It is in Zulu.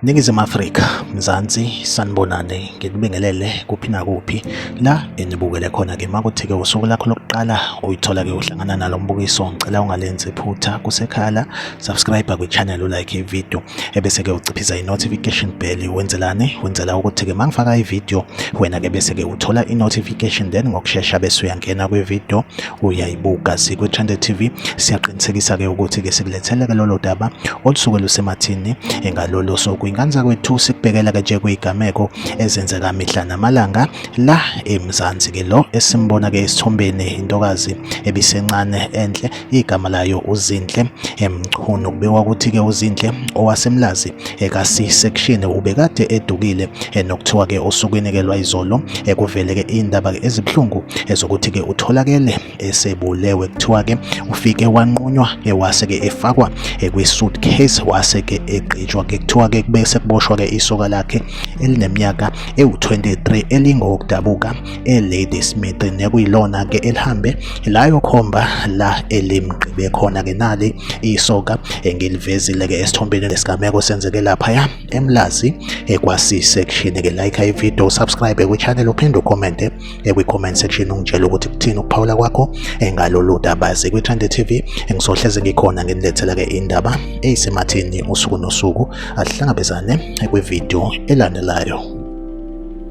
Ningizimu Afrika, Mzansi, sanibonane ngikubingelele kuphi nakuphi la enibukele khona ke makuthike usuku lakho lokuqala uyithola ke uhlangana nalo mbukiso ngicela ungalenzi phutha kusekhala subscribe kwichannel ulike ivideo ebese-ke uciphisa i-notification bell wenzelani wenzela ukuthi-ke uma ngifaka ivideo wena-ke bese-ke uthola i-notification then ngokushesha bese uyangena kwivideo uyayibuka sikwi-trende tv siyaqinisekisa-ke ukuthi-ke sikulethele-ke lolo daba olusuke lusemathini engalolo soku inkanza kwethu sikubhekela-ke nje kuyigameko ezenzeka mihla namalanga la emzansi-ke lo esimbona-ke esithombeni intokazi ebisencane enhle igama layo uZinhle Mchunu kubikwa ukuthi-ke uZinhle owasemlazi eka-c section ubekade edukile nokuthiwa-ke osukwini-ke lwayizolo kuveleke indaba-ke ezibuhlungu ezokuthi-ke utholakele esebulewe kuthiwa-ke ufike wanqunywa wase-ke efakwa kwi-suitcase wase-ke egqitshwa-ke kuthiwa-ke kube sekuboshwa-ke isoka lakhe elineminyaka ewu-23 elingokudabuka e-Lady Smith nekuyilona ke elihambe layo khomba la elimgqibe khona ke nali isoka engilivezile ke esithombeni lesigameko senzeke lapha ya emlazi ekwasi section ke like i video subscribe ku channel uphinde ucommente ekwi comment section ungitshela ukuthi kuthini ukuphawula kwakho engalolu daba sekwi Trende TV engisohleze ngikhona nginilethela ke indaba eyisemathini usuku nosuku asihlangabezane ekwi video elandelayo